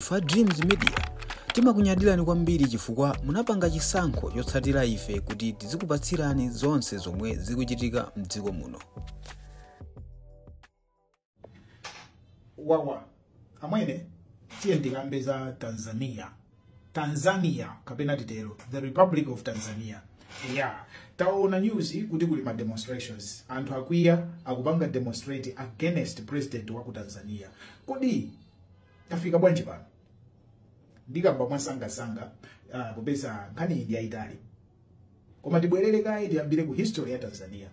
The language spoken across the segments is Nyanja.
Ife a Dreams Media timakunyadilani kwambiri chifukwa munapanga chisankho chotsatira ife kuti tizikupatsirani zonse zomwe zikuchitika mdziko muno. wawa amwene tiye ndikambe za tanzania tanzania kapena titero the republic of tanzania yeah taona news kuti kuli ma demonstrations anthu akwiya akupanga demonstrate against president wa ku tanzania kodi tafika bwanji pano ndikamba mwasangasanga uh, popeza nkhani iyi ndi yayitali koma tibwerere kaye tiyambire ku history ya tanzania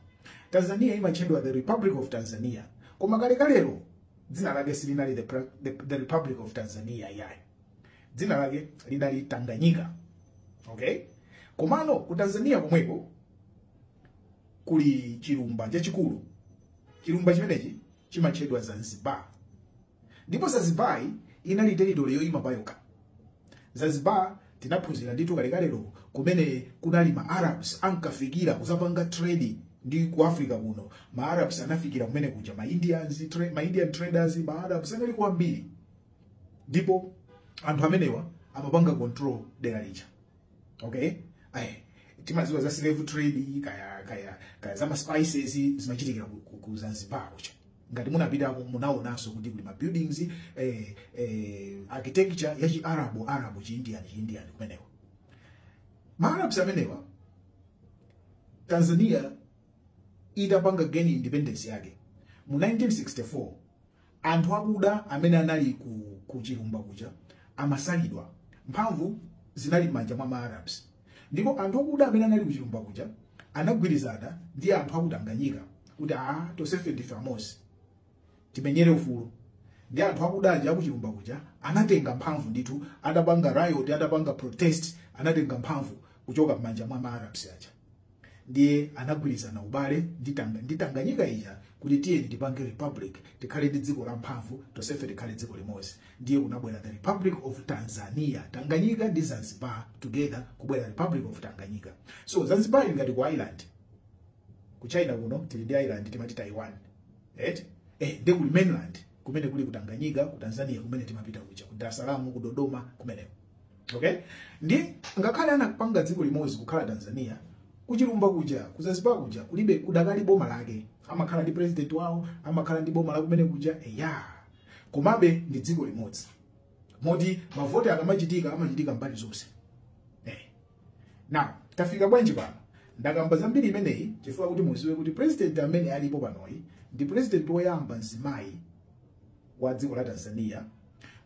tanzania imatchedwa the republic of tanzania koma kalekalero dzina lake silinali the, Pre- the, the republic of tanzania yayi dzina lake linali tanganyika okay komano ku tanzania komweko kuli chilumba chachikulu chilumba chimenechi chimatchedwa zanzibar ndipo zanzibar inali territory yoyima payokha zanzibar tinaphunzira ndithu kalekalelo kumene kunali ma arabs ankafikira kuzapanga trade ndi ku africa kuno ma arabs anafikira kumene kuja ma indians tra ma indian traders ma arabs anali kwambiri ndipo anthu amenewa amapanga control dera lija okay timadziwa za slave trade kaya za ma spices zimachitikira ku- ku- ku zanzibar kuja ngati munapitako munaonanso kuti kuli ma buildings eh, eh, architecture ya chiarabu arabu chiindian chiindian kumeneko ma arabs amenewa tanzania itapanga gain independence yake mu 1964 Anthu akuda amene anali ku, ku chilumba kuja amasalidwa. Mphamvu zinali m'manja mwa Maarabs, ndipo anthu akuda amene anali ku chilumba kuja anagwirizana ndi anthu aku Tanganyika kuti a tonsefe ndife amodzi timenyere ufulu ndi anthu akuda aja aku chilumba kuja anatenga mphamvu ndithu, atapanga riot, atapanga protest, anatenga mphamvu kuchoka m'manja mwa Maarabs aja. ndiye anagwirizana ubale ndi Tanga- ndi tanganyika ija kuti tiyeni tipange republic tikhale ndi dziko la mphamvu tonsefe tikhale dziko limodzi ndiye kunabwera the republic of tanzania tanganyika ndi zanzibar together kubwera republic of tanganyika so zanzibar ili ngati ku island ku china kuno tili ndi island timati taiwan right? eh, ndi kuli mainland kumene kuli ku tanganyika ku tanzania kumene timapita kuja ku dar es salaam ku dodoma kumeneko okay ndi ngakhale anapanga dziko limodzi kukhala tanzania kuchilumba kuja ku zanzibar kuja kulibe kudakali boma lake amakhala ndi president wawo amakhala ndi boma lakumene kuja eya komabe ndi dziko limodzi moti mavoti akamachitika amachitika mbali zonse eh. now tafika bwanji pano ndakamba za mbiri imeneyi chifukwa kuti muziwe kuti president amene alipo panoyi ndi president woyamba mzimayi wa dziko la Tanzania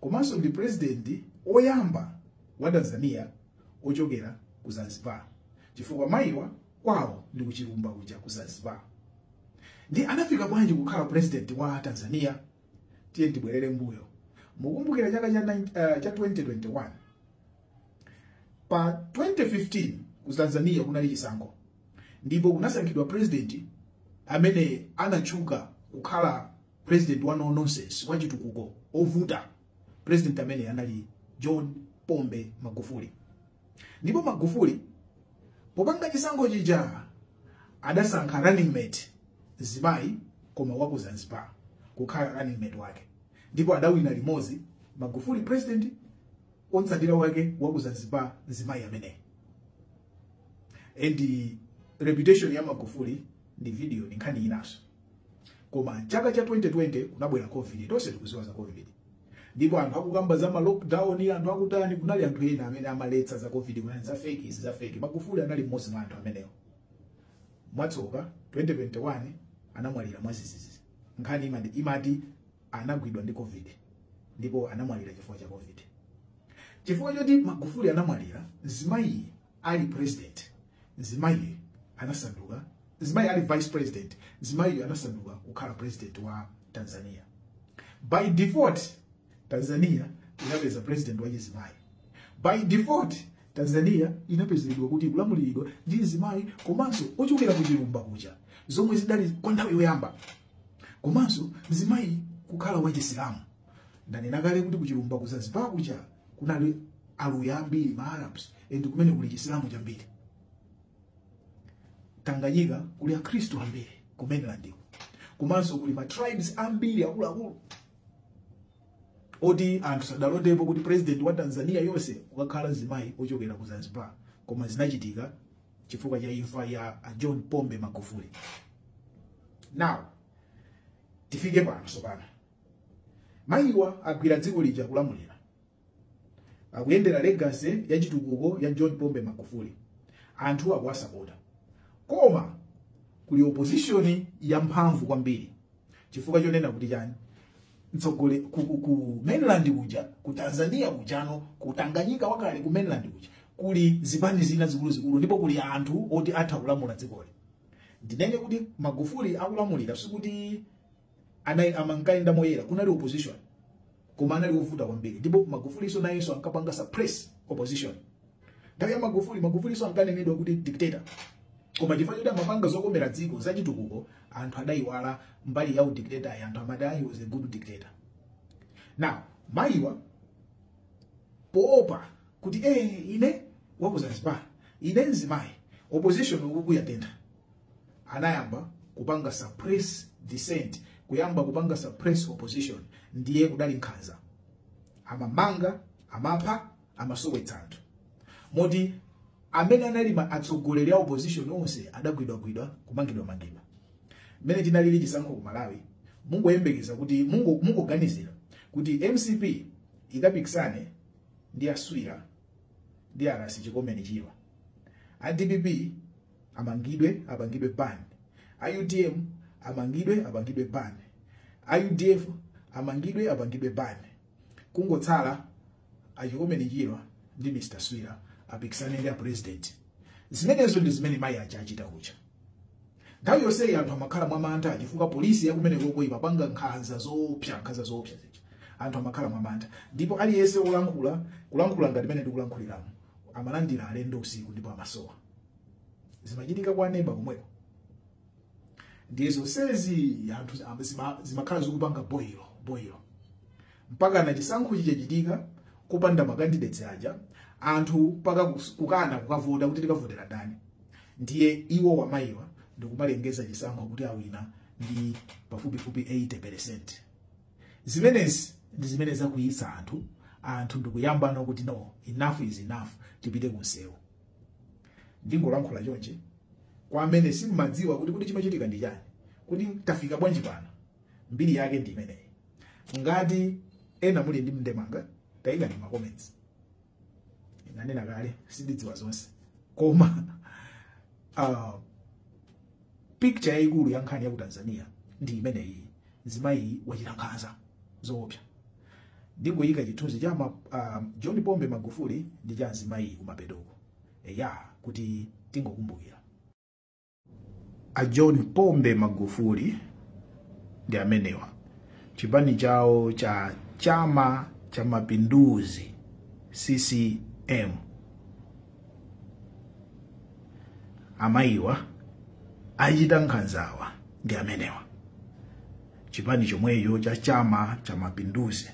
komanso ndi president oyamba wa Tanzania ochokera ku Zanzibar chifukwa mayiwa kwawo ndi kuchilumba kuja ku Zanzibar ndi anafika bwanji kukhala president wa Tanzania tiye tibwerere mbuyo mukumbukira chaka cha, uh, cha 2021 pa 2015 ku Tanzania kunali chisankho ndipo kunasankhidwa president amene anatchuka kukhala president wa no nonsense wa chitukuko ovuta president amene anali john pombe magufuli ndipo magufuli popanga chisankho chija adasankha running mate mzimayi koma waku zanzibar kukhala running mate wake ndipo adawina limodzi magufuli president otsatira wake waku zanzibar mzimayi ameneyi and reputation ya magufuli ndi video ndi nkhani inaso koma chaka cha 2020 kunabwera covid tonse tikudziwa za covid ndipo anthu akukamba za ma lockdown anthu akutani kunali anthu ena amene amaletsa za covid kunali za fake izi za fake magufuli anali mmodzi mwa anthu amenewo mwatsoka 2021 anamwalira mwadzidzidzi nkhani imati, imati anagwidwa ndi covid ndipo anamwalira chifukwa cha covid chifukwa choti magufuli anamwalira mzimayi ali president Mzimayi anasanduka, mzimayi ali vice president, mzimayiyo anasanduka kukhala president wa Tanzania. By default, Tanzania inapeza president wa chizimayi. By default, Tanzania inapezedwa kuti kulamuliridwa ndi mzimayi komanso ochokera ku chilumba kuja zomwe zidali kwa nthawi yoyamba komanso mzimayi kukhala wa chisilamu. ndanena kale kuti kuchilumba ku zanzibar kuja kunali aluya ambiri ma arabs ndi kumene kuli chisilamu chambiri tanganyika kuli akhristu ambiri ku mainlandiko komanso kuli ma tribes ambiri akuluakulu oti anthu sadalotepo kuti president wa tanzania yonse ukakhala mzimayi ochokera ku zanzibar koma zinachitika chifukwa cha imfa ya a john pombe magufuli now tifike pano sopano Mayiwa agwira dziko lija akulamulira. Akuyendera legacy ya chitukuko ya John Pombe Magufuli. Anthu akuwasapota. Koma kuli opposition ya mphamvu kwambiri. Chifukwa chonena kuti chani? Mtsogole ku, ku, ku mainland kuja, ku Tanzania kujano, ku Tanganyika wakale ku mainland kuja. Kuli zipani zina zikuluzikulu ndipo kuli anthu oti atha kulamula dzikoli. Ndinene kuti Magufuli akulamulira sikuti anai amankaenda moyera kunali opposition koma anali ovuta kwambiri ndipo magufuli nso nayenso ankapanga suppress opposition nthawi ya magufuli magufuli nso ankanenedwa kuti dictator koma chifukwa choti amapanga zokomera dziko zachitukuko anthu adayiwala mbali ya udictator yi anthu amati he was a good dictator now mayiwa poopa kuti eh ine wa ku zanzibar ine mzimayi opposition uku yatentha anayamba kupanga suppress dissent kuyamba kupanga suppress opposition ndiye kudali nkhanza amamanga amapha amasowetsa anthu moti amene anali ma- atsogoleri a opposition onse adagwidwagwidwa kumangidwamangidwa mmene tinalili chisankho ku malawi mungoyembekeza kuti mungo- mungoganizira kuti mcp ikapikisane ndi aswira ndi a ras chikomeni chirwa a dpp amangidwe apangidwe ban a utm amangidwe apangidwe ban a udf amangidwe apangidwe ban kungotsala achikomeni chirwa ndi mr swira apikisane ndi apresident zimenezo ndi zimene mayi aja achita kuja nthawi yonseyi anthu amakhala mwamantha chifukwa polisi yakumenekoko imapanga nkhanza zoopsa nkhanza zoopsa zija anthu amakhala mwamantha ndipo aliyense olankhula kulankhula ngati mene ndikulankhuliramo amalandira alendo usiku ndipo amasowa zimachitika kwa neba komweko ndiye zonsezi anthu am- zima- zimakhala zikupanga boil boil mpakana chisankho chichachitika kupanda makandidates aja anthu mpaka kus- kukana kukavota kuti tikavotera ndani ndiye iwowa mayiwa ndikumalengeza chisankho kuti awina ndi pafupifupi 80 percent zimenezi ndi zimene zakwiyitsa anthu anthu ndikuyamba kuti no enough is enough tipite kunsewu ndingolankhula chonchi kwa amene simumadziwa kuti kuti chimachitika ndi chani kuti tafika bwanji pano mbiri yake ndi imeneyi ngati ena muli ndi ndemanga tayikani ma comments ndanena kale sindidziwa zonse koma uh, picture yayikulu ya nkhani ya ku tanzania ndi imeneyi mzimayiyi wachita nkhanza zoopsa ndingoyika chithunzi cha ma, um, john pombe magufuli ndi cha mzimayiyi kumapetoko eya kuti tingokumbukira a john pombe magufuli ndi amenewa chipani chawo cha chama cha mapinduzi ccm amayiwa achita nkhanzawa ndi amenewa chipani chomwecho cha chama cha mapinduzi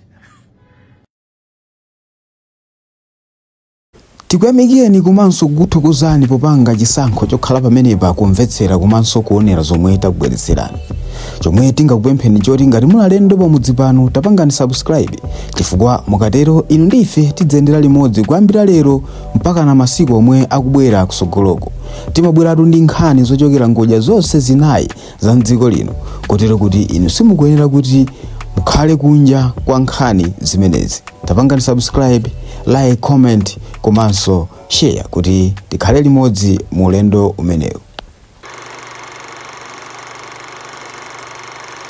tikuyamikireni komanso kukuthokozani popanga chisankho chokhala pamenepa kumvetsera komanso kuonera zomwe takubweretserani chomwe tingakupempheni choti ngati muli alendo pamudzi pano tapangani subscribe chifukwa mukatero inu ndi ife tidzayendera limodzi kuyambira lero mpakana masiku omwe akubwera kusogoloko timabweratu ndi nkhani zochokera ngodya zonse zinayi za mdziko lino kotero kuti inu simukuyenera kuti mukhale kunja kwa nkhani zimenezi tapangani subscribe like comment komanso share kuti tikhale limodzi mu ulendo umenewu